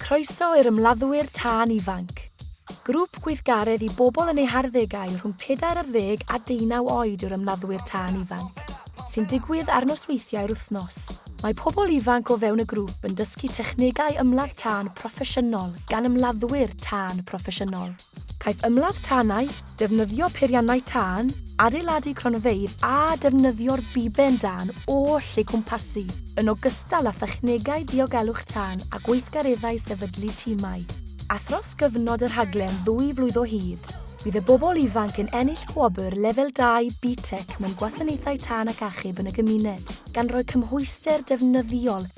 Croeso i'r Ymladdwyr Tân Ifanc! Grŵp gweithgaredd i bobl yn eu harddegau rhwng pedair ar ddeg a deunaw oed yw'r Ymladdwyr Tân Ifanc, sy'n digwydd ar nosweithiau'r wythnos. Mae pobl ifanc o fewn y grŵp yn dysgu technegau ymladd tân proffesiynol gan ymladdwyr tân proffesiynol. Caiff ymladd tanau, defnyddio peiriannau tân, adeiladu cronfeydd a defnyddio'r biben dân oll eu cwmpasu, yn ogystal â thechnegau diogelwch tân a gweithgareddau sefydlu timau. A thros gyfnod y rhaglen ddwy flwydd o hyd, bydd y bobl ifanc yn ennill gwobr Lefel 2 BTEC mewn Gwasanaethau Tân ac Achub yn y Gymuned, gan roi cymhwyster defnyddiol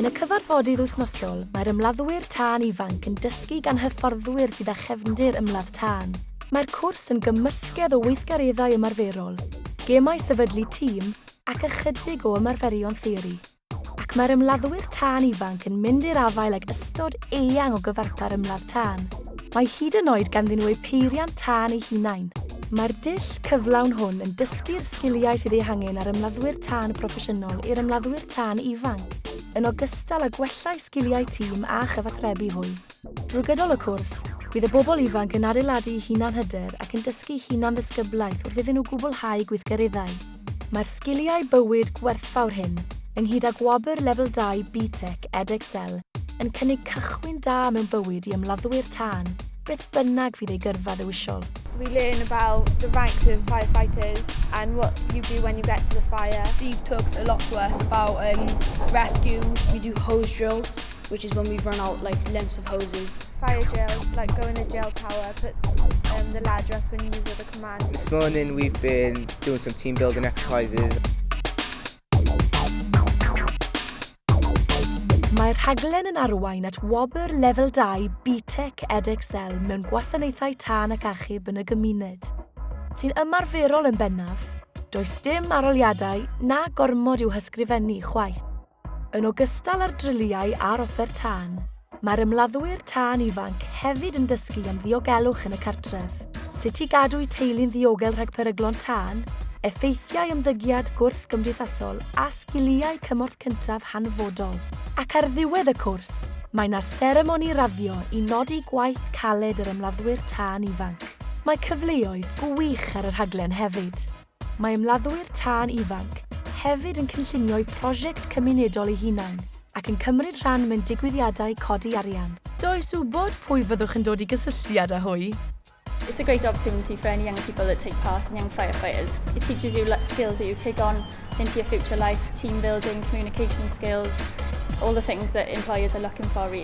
Yn y cyfarfodydd wythnosol, mae'r ymladdwyr tân ifanc yn dysgu gan hyfforddwyr sydd â chefndir ymladd tân. Mae'r cwrs yn gymysgedd o weithgareddau ymarferol, gemau sefydlu tîm ac ychydig o ymarferion theori. ac mae'r ymladdwyr tân ifanc yn mynd i'r afael ag ystod eang o gyfarpar ymladd tân. Mae hyd yn oed ganddyn nhw eu peiriant tân eu hunain. Mae'r dull cyflawn hwn yn dysgu'r sgiliau sydd eu hangen ar ymladdwyr tân proffesiynol i'r ymladdwyr tân ifanc, yn ogystal â gwella eu sgiliau tîm a chyfathrebu hwy. Drwy gydol y cwrs, bydd y bobl ifanc yn adeiladu hunanhyder ac yn dysgu hunanddisgyblaeth wrth iddyn nhw gwblhau gweithgareddau. Mae'r sgiliau bywyd gwerthfawr hyn, ynghyd â gwobr Lefel 2 BTEC Edexcel, yn cynnig cychwyn da mewn bywyd i ymladdwyr tân, beth bynnag fydd eu gyrfa ddewisol. We learn about the ranks of firefighters and what you do when you get to the fire. Steve talks a lot to us about um, rescue. We do hose drills. which is when we run out like lengths of hoses. Fire drills, like go in a drill tower, put um, the ladder up and use other commands. This morning we've been doing some team building exercises. Mae'r rhaglen yn arwain at wobr lefel 2 BTEC EdXL mewn gwasanaethau tân ac achub yn y gymuned, sy'n ymarferol yn bennaf, does dim aroliadau na gormod i'w hysgrifennu chwaith. Yn ogystal â'r dryliau a'r offer tân, mae'r ymladdwyr tân ifanc hefyd yn dysgu am ddiogelwch yn y cartref, sut i gadw'u teulu'n ddiogel rhag peryglon tân, effeithiau ymddygiad gwrthgymdeithasol a sgiliau cymorth cyntaf hanfodol. Ac ar ddiwedd y cwrs, mae 'na seremoni raddio i nodi gwaith caled yr ymladdwyr tân ifanc. Mae cyfleoedd gwych ar y rhaglen hefyd. Mae ymladdwyr tân ifanc hefyd yn cynllunio'u prosiect cymunedol eu hunain ac yn cymryd rhan mewn digwyddiadau codi arian. Does wybod pwy fyddwch yn dod i gysylltiad â hwy. It's a great opportunity for any young people that take part in Young Firefighters. It teaches you skills that you take on into your future life, team building, communication skills, all the things that employers are looking for really.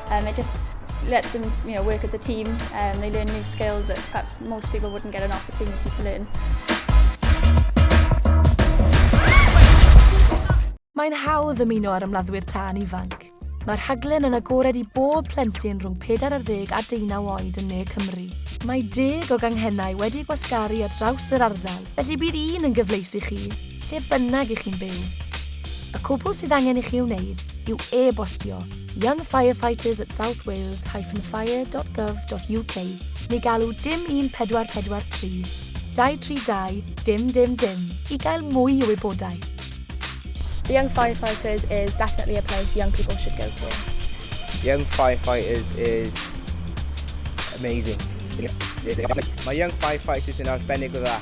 Um, it just lets them you know, work as a team and um, they learn new skills that perhaps most people wouldn't get an opportunity to learn. Mae'n hawdd ymuno ar ymladdwyr tân ifanc. Mae'r rhaglen yn agored i bob plentyn rhwng 40 a 19 oed yn ne Cymru. Mae deg o ganghennau wedi gwasgaru ar draws yr ardal, felly bydd un yn gyfleus i chi, lle bynnag i chi'n byw. Y cwbl sydd angen i chi wneud yw e-bostio Young Firefighters at South Wales-fire.gov.uk neu galw dim 1443 232 dim dim dim i gael mwy o wybodaeth. The Young Firefighters is definitely a place young people should go to. Young Firefighters is amazing. Mae Young Firefighters yn arbennig o dda.